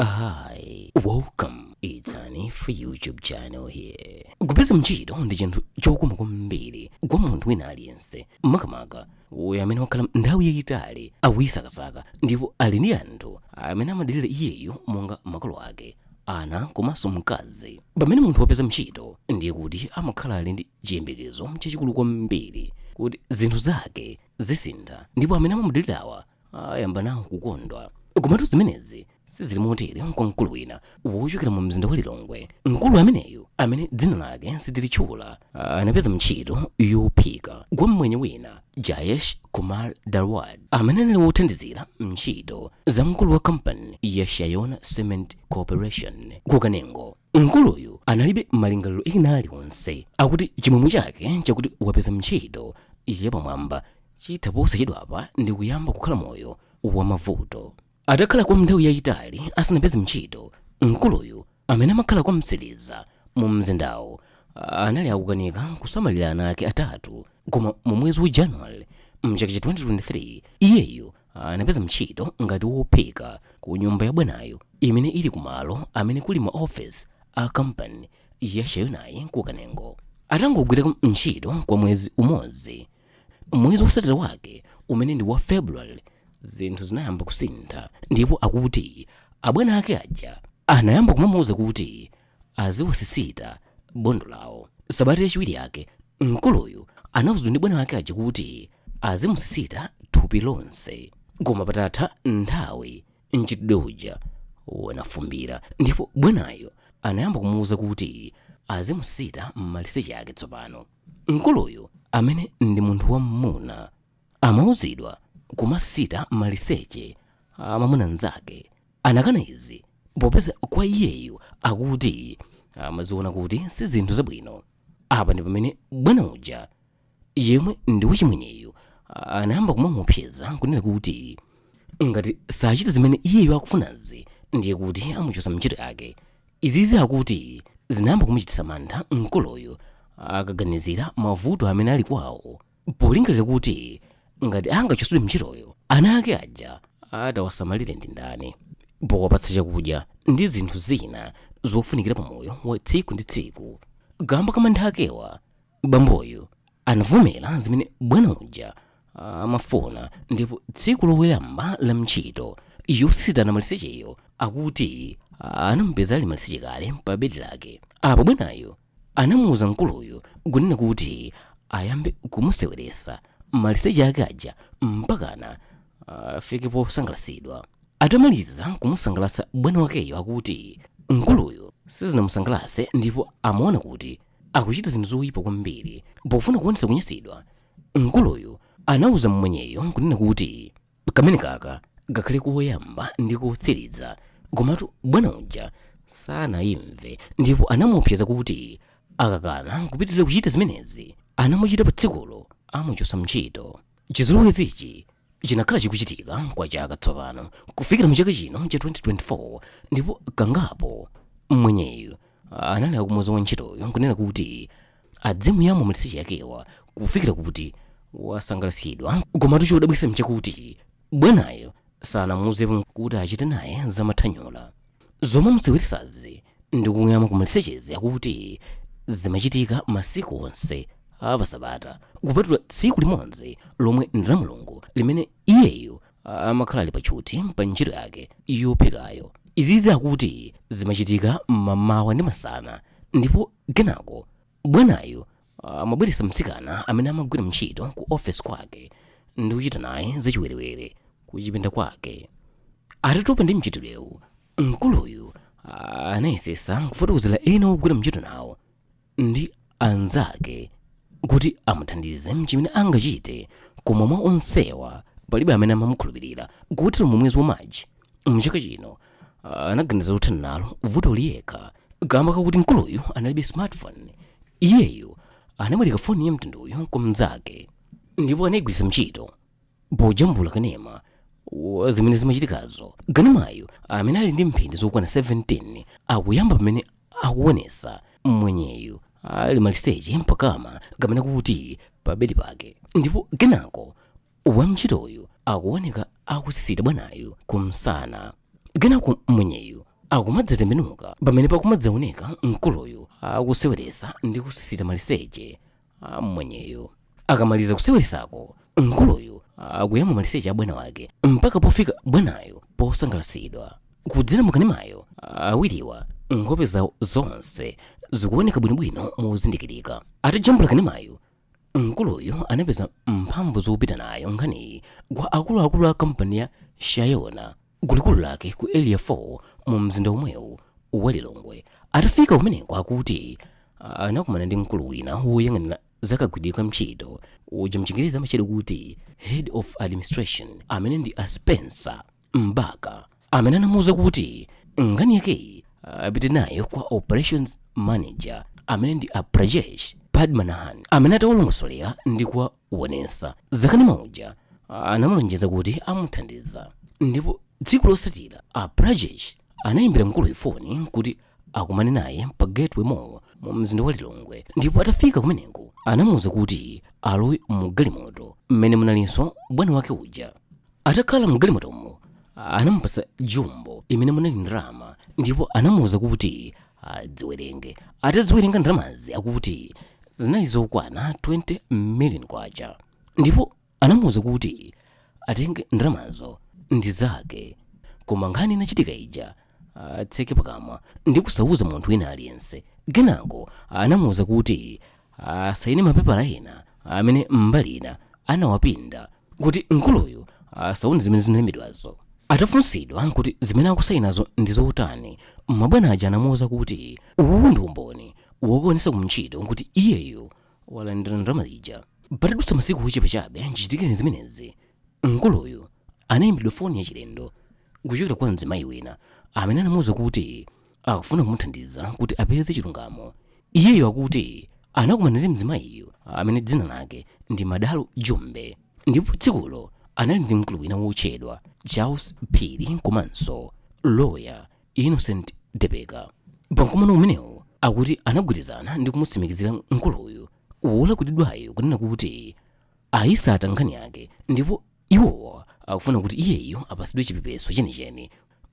Hi, welcome. It's an F YouTube channel here. Kupeza mchito ndi chinthu chokoma kwambiri kwa munthu wina aliyense makamaka uyo amene wakhala nthawi yayitali akuyisakasaka ndipo ali ndi anthu amene amadalira iyeyo monga makolo ake ana komanso mkazi pamene munthu wapeza mchito ndiye kuti amakhala ali ndi chiyembekezo chachikulu kwambiri kuti zinthu zake zisintha ndipo amene amamudalirawa ayamba nawo kukondwa komatu zimenezi sizili motere kwa mkulu wina wochokera mu mzinda wa lilongwe mkulu ameneyu amene dzina lake sitilitchula anapeza ntchito yophika kwa mmwenye wina jayesh kumar dalwadi amene anali wothandizira ntchito za mkulu wa kampani ya shayona cement corporation ku kanengo mkuluyu analibe malingaliro ena aliwonse akuti chimwemwe chake chakuti wapeza ntchito yapamwamba chitha posachedwapa ndi kuyamba kukhala moyo wa mavuto atakhala kwa nthawi yayitali asanapeze ntchito mkuluyu amene amakhala kwa mtsiliza mu mzindawo anali akukanika kusamalira ana ake atatu koma mu mwezi wa january mchaka cha 2023 iyeyu anapeza ntchito ngati wophika ku nyumba ya bwanayo imene ili kumalo amene kuli ma office a kampani ya shayonayi ku kanengo atangogwira ntchito kwa mwezi umodzi mwezi wotsatira wake umene ndi wa february zinthu zinayamba kusintha ndipo akuti abwana ake aja anayamba kumamuwuza kuti aziwasisita bondo lawo. Sabata yachiwiri yake, mkuluyu anauzidwa ndi bwana wake aja kuti azimusisita thupi lonse. Koma patatha nthawi, mchitidwe uja unafumbira ndipo bwanayo anayamba kumuuza kuti azimusisita maliseche ake tsopano. Mkuluyu amene ndi munthu wam'muna amauzidwa kumasisita maliseche a mamuna mnzake Anakana izi popeza kwa iyeyu akuti amaziona kuti si zinthu zabwino. Apa ndi pamene bwana uja yemwe ndi wachimwenyeyu anayamba kumamuopseza n'kunena kuti ngati sachita zimene iyeyu akufunazi ndiye kuti amuchotsa ntchito yake. Izizi akuti zinayamba kumuchititsa mantha mkuluyu akaganizira mavuto amene ali kwawo. polingalira kuti ngati angachotsedwe ntchitoyo ana ake aja atawasamalire ndi ndani powapatsa chakudya ndi zinthu zina zofunikira pa moyo wa tsiku ndi tsiku kamba ka mantha akewa bamboyu anavomera zimene bwana uja amafuna ndipo tsiku loyamba la ntchito yosisitana malisecheyo akuti anamupeza ali maliseche kale pa bedi lake apo bwanayo anamuuza mkuluyu kunena kuti ayambe kumuseweresa maliseche ake aja mpakana afike posangalasidwa atamaliza kumusangalasa bwana wakeyo akuti mkuluyu sizinamusangalase ndipo amaona kuti akuchita zinthu zoyipa kwambiri pofuna kuonesa kunyasidwa mkuluyu anauza mmwenyeyo kunena kuti kameneka kakhale koyamba ndi kotsiriza komatu bwana uja sanayimve ndipo anamuopseza kuti akakana kupitirira kuchita zimenezi anamuchita pa tsikulo amuchosa ntchito chizolowezichi chinakhala chikuchitika kwa chaka tsopano kufikira mu chaka chino cha 2024 ndipo kangapo mwenyeyu anali akumuuza wantchitoyo nkunena kuti adzimuyamwa maliseche yakewa kufikira kuti wasangalatsidwa komatu chodabwitsa mchakuti bwanayo sanamuuzepo kuti achite naye zamathanyula zomuseweretsazi ndi kumuyamwa kumalisechezi akuti zimachitika masiku onse apasabata kupatula tsiku limodzi lomwe ndi la mulungu limene iyeyo a- amakhala ali patchuti pa ntchito yake yophikayo izizi akuti zimachitika mmamawa ndi masana ndipo kenako bwanayo amabweretsa mtsikana amene amagwira ntchito ku ofesi kwake ndi kuchita naye zachiwerewere kuchipinda kwake atatopa ndi mchitirewu mkuluyu ah, anayesesa kufotokozera ena ogwira ntchito nawo ndi anzake kuti amuthandize mchimene angachite koma mwa onsewa palibe amene amamukhulupirira kotero mu mwezi wa machi mchaka chino ah, anaganiza kuthana nalo vutoli yekha kamba kakuti mkuluyu analibe smartphone iyeyu anabwereka foni ya mtunduyu kwa mnzake ndipo anayigwiritsa ntchito pojambula kanema wa zimene zimachitikazo kanemayu amene ali ndi mphindi zokwana 17 akuyamba pamene akuonesa mwenyeyu ali maliseche mpakama kapena kuti pabedi pake ndipo kenako wantchitoyu akuoneka akusisita bwanayu kumsana kenako mwenyeyu akumadzatembenuka pamene pakumadzaoneka mkuluyu akuseweresa ndi kusisita maliseche amwenyeyo akamaliza kuseweresako mkuluyu akuyamwa maliseche a bwana wake mpaka pofika bwanayo posangalasidwa kudzera mukanemayo awiriwa nkhope zawo zonse zikuoneka bwinobwino mozindikirika atajambula kanemayo mkuluyu anapeza mphamvu zopita nayo nkhaniyi kwa akuluakulu a kampani ya shayona ku likulu lake ku area 4 mu mzinda womwewu wa lilongwe atafika kumeneko akuti ah, anakumana ndi mkulu wina woyang'anira zakagwiridwe ka ntchito uja mchingerezi amatchedwa kuti head of administration amene ndi a spencer mbaka amene anamuwuza kuti nkhani yakeyi apite nayo kwa operations manager amene ndi a prajesh padmanabhan amene atawalongosolera ndi kuwa wonesa zakanema uja anamulonjeza kuti amuthandiza ndipo tsiku losatira a Prajesh anayimbira mkuluyu foni kuti akumane naye pa Gateway Mall mu mzinda wa Lilongwe ndipo atafika kumeneko anamuwuza kuti alowe mu galimoto mmene munalinso bwana wake uja atakhala mgalimotomo anamupasa jumbo imene munali ndalama ndipo anamuwuza kuti adziwerenge atadziwerenga ndalamazi akuti zinali zokwana 20 million kwacha ndipo anamuwuza kuti atenge ndalamazo ndi zake koma nkhani inachitika ija atseke pakamwa ndi kusauza munthu wina aliyense kenako anamuwuza kuti asayine mapepala ena amene mbali ina anawapinda kuti mkuluyu asaone zimene zinalembedwazo atafunsidwa kuti zimene akusayinazo ndi zotani mabwana aja anamuwuza kuti uwu ndi umboni wokaonesa kuntchito kuti iyeyo walandira ndalama zija patadutsa masiku ochepa chabe chichitikireni zimenezi mkuluyu anayimbiridwa foni yachilendo kuchokera kwa mzimayi wina amene anamuwuza kuti akufuna kumuthandiza kuti apeze chilungamo iyeyo akuti anakumana ndi mzimayiyu amene dzina lake ndi madalo jumbe ndipo tsikulo anali ndi mkulu wina wotchedwa charles phiri komanso loya innocent tepeka pamkumano umenewu akuti anagwirizana ndi kumutsimikizira mkuluyu wolakwiridwayo kunena kuti ayisata nkhani yake ndipo iwowo akufuna kuti iyeyo apasidwe chipepeso chenicheni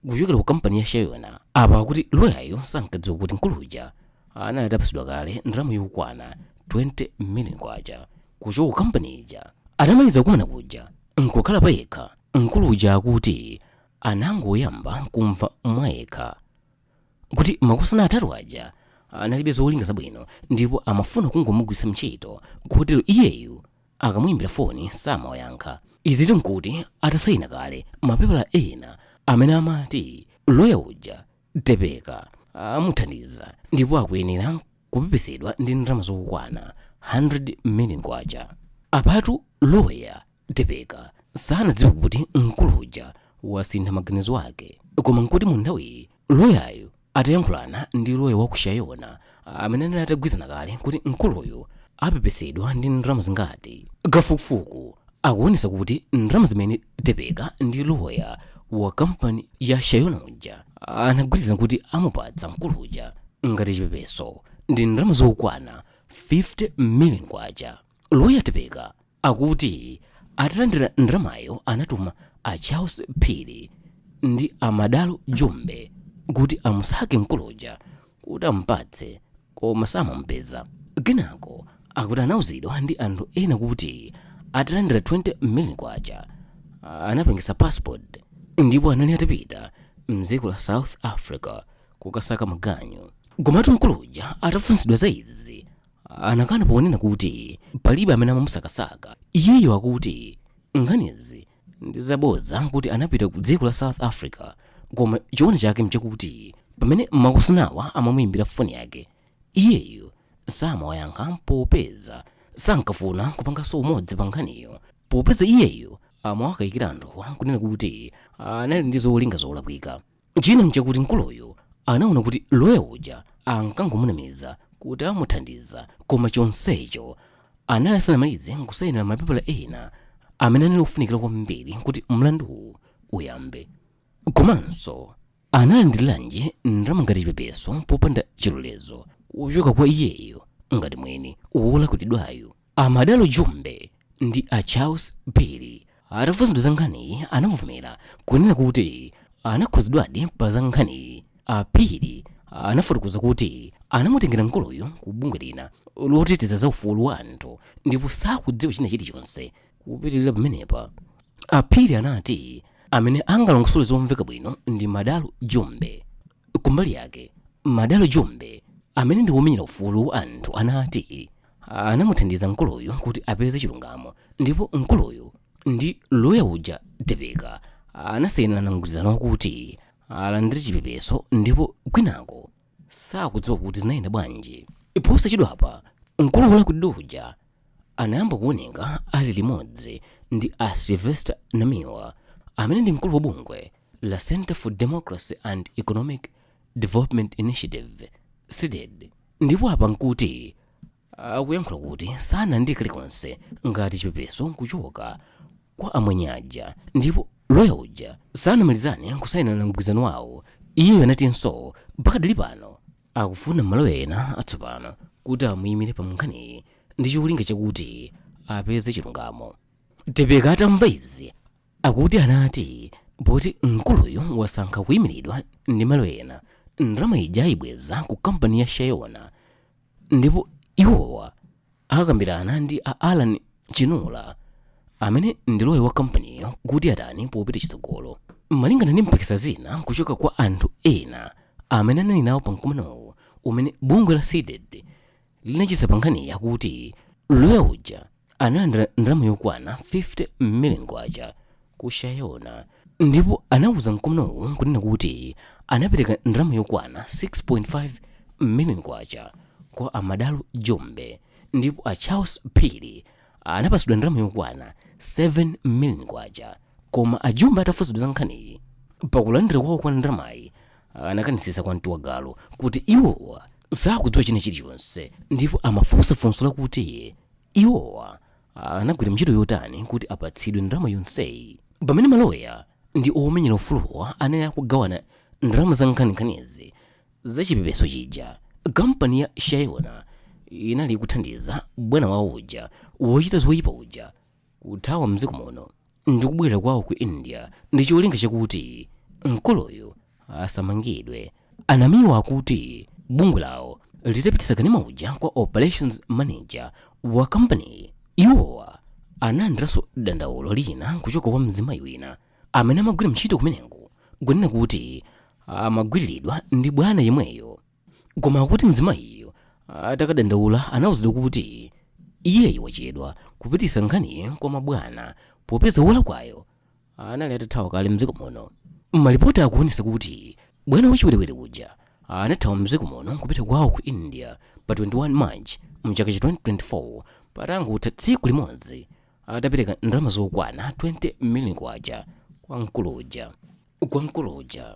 kuchokera ku kampani ya shayona apa akuti loyayo sankadziwa kuti mkuluja anali atapasidwa kale ndalama yokwana 20 million kwacha kuchoka ku kampani ija atamaliza kukumana kuja nkukhala payekha mkuluja akuti anangoyamba kumva mwayekha kuti makosana atatu aja analibe zolinga zabwino ndipo amafuna kungomugwiritsa ntchito kotero iyeyu akamuyimbira foni samawayankha izitu nkuti atasayina kale mapepala ena amene amati loya uja tepeka amuthandiza ndipo akuyenera kupepesedwa ndi ndalama zokwana 100 million kwacha apatu loya tepeka sanadziwe kuti mkuluja wasintha maganizo ake koma nkuti mu nthawiyi loyayo atayankhulana ndi loya wa ku shayona amene anali atagwirizana kale kuti mkuluyu apepesedwa ndi ndalama zingati kafukufuku akuonesa kuti ndalama zimene tepeka ndi loya wa kampani ya shayona uja anagwirizana kuti amupatsa mkulu uja ngati chipepeso ndi ndalama zokwana 50 million kwacha loya tepeka akuti atalandira ndalamayo anatuma a charles phiri ndi a madalo jumbe kuti amusake mkuluja kuti amupatse koma samamupeza kenako akuti anauzidwa ndi anthu ena kuti atalandira 20 million kwacha anapangisa passport ndipo anali atapita mdziko la south africa kukasaka maganyu komatu mkuluja atafunsidwa za izi anakana ponena kuti palibe amene amamusakasaka iyeyo akuti nkhanizi ndi zabodza kuti anapita ku dziko la south africa koma choona chake mchakuti pamene makosanawa amamuyimbira foni yake iyeyo samawayankha popeza sankafuna kupanganso umodzi pa nkhaniyo popeza iyeyo amawakayikira anthuwa kunena kuti anali ndi zolinga zolakwika china nchakuti mkuluyu anaona kuti loya uja ankangomunamiza kuti amuthandiza koma chonsecho anali asanamalize kusayinira mapepala ena amene anali ofunikira kwambiri kuti mlanduwu uyambe komanso analandiriranji ndalama ngati chipepeso popanda chilolezo kuchoka kwa iyeyo ngati mwini wolakwiridwayo A Madalo Jumbe ndi a Charles Phiri atafunsidwa za nkhaniyi anavomera kunena kuti anakhudzidwadi pa za nkhaniyi. A Phiri anafotokoza kuti anamutengera mkuluyu ku bungwe lina loteteza za ufulu wa anthu ndipo sakudziwa china chilichonse kupitirira pamenepa. A Phiri anati amene angalongosole zomveka bwino ndi Madalo Jumbe. Kumbali yake, Madalo Jumbe amene ndi womenyera ufulu wa anthu anati anamuthandiza mkuluyu kuti apeze chilungamo ndipo mkuluyu ndi loya uja Tepeka anasainirana mgwirizano wakuti alandire chipepeso ndipo kwinako sakudziwa kuti zinayenda bwanji. Posachedwapa, mkulu wolakwiridwa uja anayamba kuoneka ali limodzi ndi a Sylvester Namiwa amene ndi mkulu wa bungwe la Center for Democracy and Economic Development Initiative CDED ndipo apa nkuti akuyankhula kuti sanalandire kalikonse ngati chipepeso kuchoka kwa amwenye aja ndipo loya uja sanamalizane kusayinirana mgwirizano wawo iye anatinso pakadali pano akufuna maloya ena atsopano kuti amuyimire pa nkhaniyi ndi cholinga chakuti apeze chilungamo tepeka atamva izi akuti anati poti mkuluyo wasankha kuyimiridwa ndi maloya ena ndalama ija ayibweza ku kampani ya shayona ndipo iwowa akakambirana ndi a alan chinula amene ndi loya wa kampaniyo kuti atani popita chitsogolo malingana ndi mpikisa zina kuchokera kwa anthu ena amene anali nawo pa mkumanowu umene bungwe la cdedi linachititsa pa nkhaniyi akuti loya uja analandira ndalama yokwana 50 million kwacha ku shayona ndipo anauza mkumanowu kunena kuti anapereka ndalama yokwana 6.5 million kwacha kwa a madalo jumbe ndipo a charles phiri anapatsidwa ndalama yokwana 7 million kwacha koma a jumbe atafunsidwa za nkhaniyi pakulandira kwawo kwa ndalamayi anakanitsitsa kwa mtu wa galu kuti iwowa sakudziwa china chilichonse ndipo amafunsa funso lakuti iwowa anagwira ntchito yotani kuti apatsidwe ndalama yonseyi pamene maloya ndi omenyera ufuluwa anali akugawana ndalama za nkhaninkhanizi za chipepeso chija kampani ya shayona inali ikuthandiza bwana wawo uja wochita zoyipa uja kuthawa mdziko muno ndi kubwerera kwawo ku india ndi cholinga chakuti mkuluyu asamangidwe a namiwa akuti bungwe lawo litapititsa kanema uja kwa operations manager wa kampaniyi iwowa analandiranso dandaulo lina kuchokera kwa mzimayi wina amene amagwira ntchito kumeneko kunena kuti amagwiriridwa ndi bwana yemweyo koma akuti mzimayiyo atakadandaula anauzidwa kuti iyeyu wachedwa kupititsa nkhaniyi kwa mabwana popeza wolakwayo anali atathawa kale mdziko muno malipoti akuonetsa kuti bwana wachiwerewere uja anathawa mdziko muno nkupita kwawo ku india pa 21 march mchaka cha 2024 patangotha tsiku limodzi atapereka ndalama zokwana 20 million kwacha kwa mkulu uja kwa mkulu uja